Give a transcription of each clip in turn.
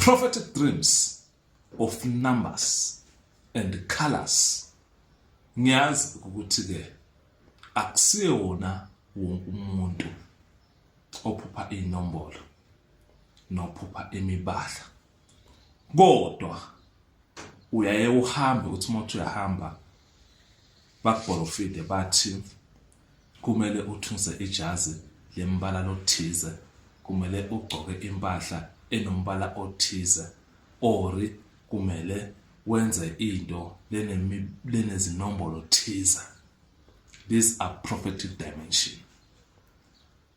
Prophetic dreams of numbers and colors ngiyazi ukuthi ke akusiye wona wonke umuntu ophupha inombolo nophupha imibala kodwa uyaye uhambe uthi umuntu uyahamba bakubholofide bathi Kumele uthunse ijazi lembala lothize, kumele ugcoke impahla enombala othize, ori kumele wenze into lenezinombolo thize. These are prophetic dimension.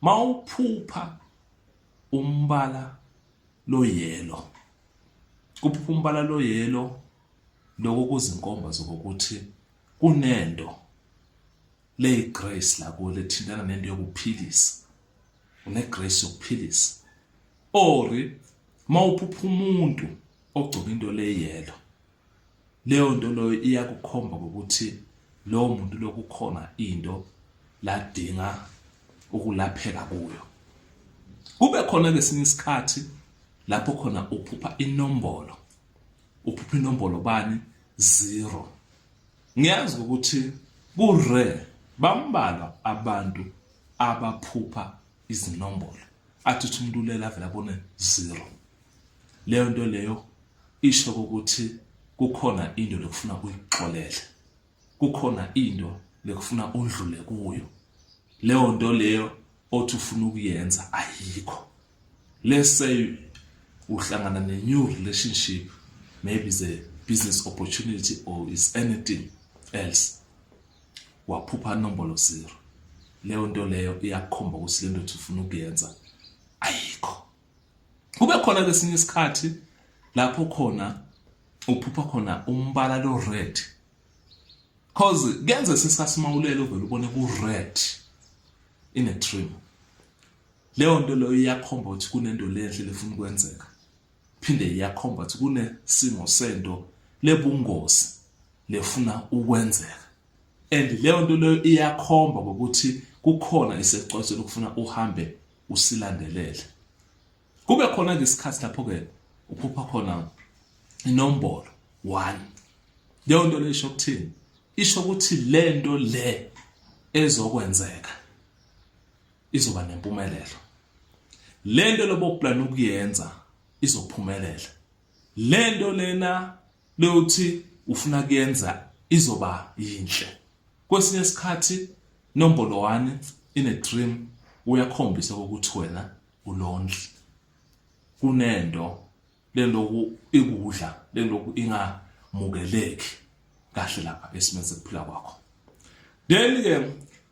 Mawuphupha umbala loyelo kuphupha umbala loyelo lokho kuzinkomba zokuthi kunento leyi grace la kuwe lethintana nento yokuphilisa une grace yokuphilisa or mawuphupha umuntu ogcoka into leyelo leyo nto loyo iyakukhomba ukuthi lowo muntu lokukhona into ladinga ukulapheka kuyo kube khona kesinye isikhathi lapho khona uphupha inombolo uphupha inombolo bani zero ngiyazi ukuthi kure bambalwa abantu abaphupha izinombolo athi uthi umuntu ulela avele abone zero leyo nto leyo isho ukuthi kukhona into lekufuna uyixolele kukhona into lekufuna undlule kuyo leyo nto leyo othi ufuna ukuyenza ayikho let's say uhlangana ne-new relationship maybe is a business opportunity or is anything else waphupha nombolo zero leyo nto leyo iyakukhomba ukuthi le ndothi ufuna ukuyenza ayikho kube khona kesinye isikhathi lapho khona uphupha khona umbala lo red cause kuyenza sesikhathi uma ulele uvele ubone ku red in a dream Leyo nto leyo iyakhomba ukuthi kunento lenhle lefuna ukwenzeka phinde iyakhomba ukuthi kunesimo sento lebungozi lefuna ukwenzeka and leyo nto leyo iyakhomba ngokuthi kukhona isecwase lokufuna uhambe usilandelele kube khona ke isikhathi lapho ke uphupha khona inombolo 1 leyo nto leyo isho ukuthini isho ukuthi lento le ezokwenzeka izoba nempumelelo lento loboplan ukuyenza izophumelela lento lena lokuthi ufuna kuyenza izoba yinhle kwesinye isikhathi nombolo 1 in a dream uyakhombisa ukuthi wena ulondli kunento leloku ikudla leloku ingamukeleki kahle lapha esimeni sokuphila kwakho then ke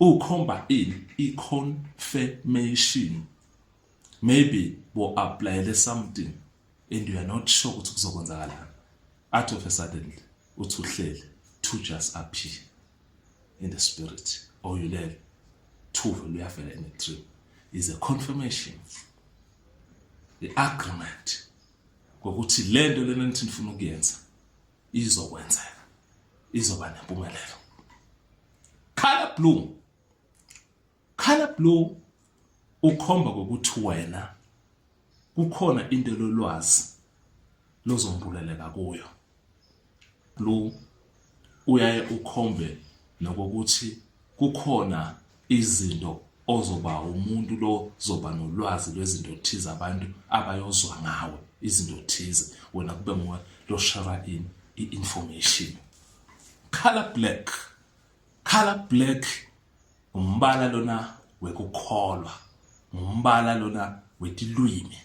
Ukhomba ini i confirmation? Maybe bo applyele something and you are not sure ukuthi kuzokwenzakalani. Out of a sudden uthi uhleli to just appear in the spirit or you learn to luyavela in a dream is a confirmation the agreement ngokuthi lento lena nithi nifuna ukuyenza izokwenzeka izoba nempumelelo color blue color blue ukhomba ukuthi wena kukhona into lolwazi lozombuleleka kuyo blue uyaye ukhombe nokuthi kukhona izinto ozoba umuntu lo zoba nolwazi lwezinto thize abantu abayozwa ngawe izinto thize wena kube nguwe lo shara in i-information color black color black umbala lona wekukholwa ngumbala lona wetilwimi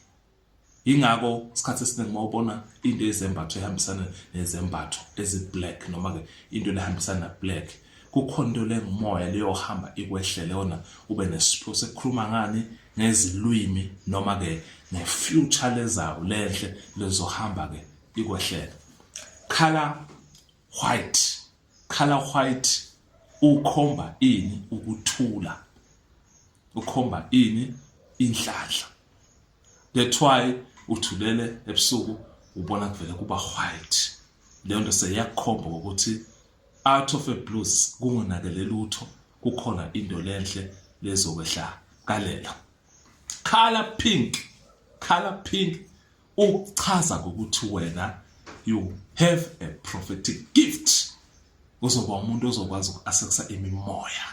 Yingakho isikhathi esiningi uma ubona into yezembatho ehambisana nezembatho ezi-black noma-ke into lehambisana na-black kukhona into lengumoya leyohamba ikwehlele yona ube nesiphiwo sekukhuluma ngani ngezilwimi noma-ke nge-future lezayo lenhle lezohamba-ke ikwehlele color white color white ukhomba ini ukuthula ukhomba ini inhlanhla that's why uthulele ebusuku ubona kuvele kuba white leyo nto seyakukhomba ukuthi out of a blues kungonakele lutho kukhona into lenhle lezokwehla kalela color pink color pink ukuchaza ukuthi wena you have a prophetic gift uzoba umuntu ozokwazi uku-accessa imimoya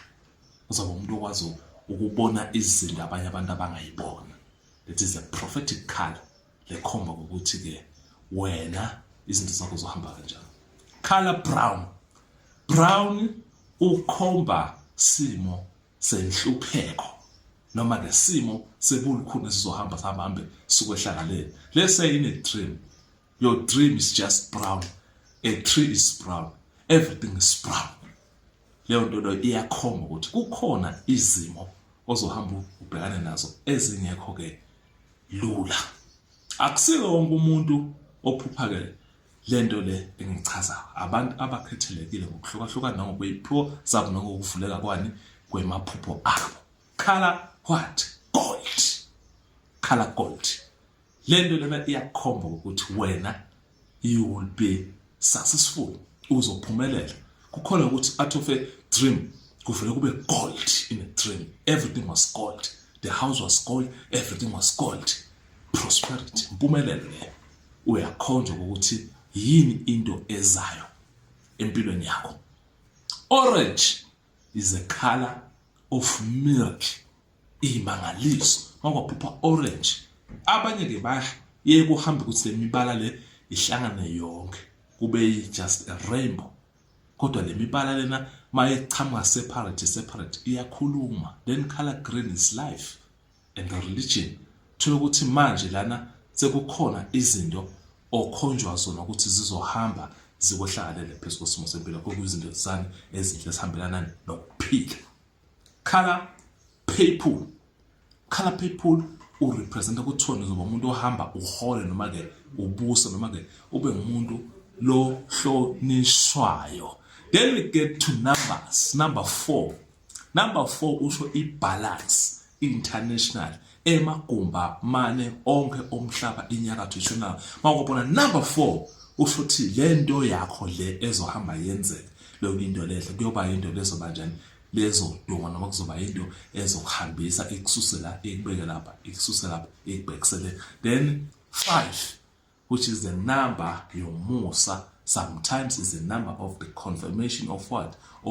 uzoba umuntu okwazi ukubona izinto abanye abantu abangayibona that is a prophetic color lekhomba ukuthi ke wena izinto zakho zohamba kanjani color brown brown ukhomba simo senhlupheko noma ke simo sebulukhuni esizohamba sahambe sukwehlakaleni lese ine dream Your dream is just brown. A tree is brown. Everything is brown. Leyo nto leyo iyakhomba ukuthi kukhona izimo ozohamba ubhekane nazo ezingekho ke lula. Akusike wonke umuntu ophupha ke lento le engichaza abantu abakhethelekile ngokuhlukahlukana nangokweyiphiwo zabo nangokuvuleka kwani kwemaphupho abo. Khala what? Gold. Khala gold. le nto lena iyakukhomba ukuthi wena you will be successful uzophumelela kukhona ukuthi out of a dream kuvele kube gold in a dream everything was gold the house was gold everything was gold prosperity impumelelo leyo uyakhonjwa ukuthi yini into ezayo empilweni yakho orange is a color of milk iyimangaliso makwaphupha orange abanye ke baye kuhambe ukuthi le mibala le ihlangane yonke kube just a rainbow kodwa le mibala lena mayechamuka separate separate iyakhuluma then color green is life and the religion thola ukuthi manje lana sekukhona izinto okhonjwa zona ukuthi zizohamba zikwehlakalele phezu kwesimo sempilo okuyizinto zani ezinhle esihambelana nokuphila Khala people khala people urepresenta kuthiwa nizoba umuntu ohamba uhole noma ke ubuse noma ke ube ngumuntu lo hlonishwayo then we get to numbers number 4 number 4 usho ibalance international emagumba mane onke omhlaba inyakatho ishonala mawubona number 4 usho ukuthi le nto yakho le ezohamba yenzeka leyo into lehle kuyoba into lezoba njani lezoduma noma kuzoba into ezokuhambisa ikususe la ikubeke lapha ikususe lapha ikubhekisele then 5 which is the number yomusa sometimes is the number of the confirmation of what